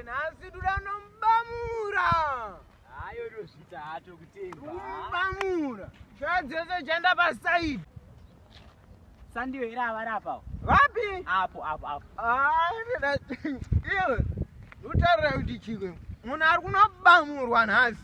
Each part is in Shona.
Nhasi tuda kunomubamura. Hayo ndozvita hato kutemba. Mubamura. Shaya dzese chanda pa side. Sandiyo here avari apawo? Vapi? Apo apo apo. Ah, ndoda. Iwe. Utarira kuti chikwe. Munhu ari kunobamurwa nhasi.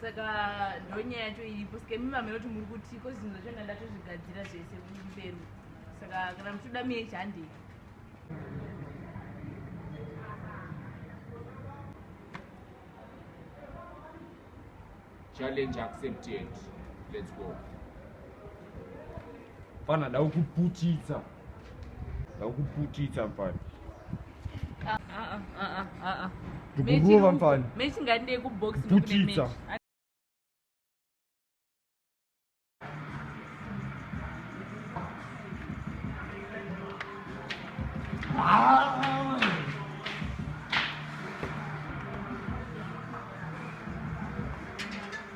saka ndonyaya yacho iripo saka imi mama inoti muri kuti ko zvinhu zvacho ndanga ndatozvigadzira zvese kumberi saka kana muchitoda mie chandei challenge accepted let's go Mfana ndakuputitsa. Ndakuputitsa mfana. Ah ah ah ah ah. Ndikurova mfana. Mechi ngandide ku box putitsa.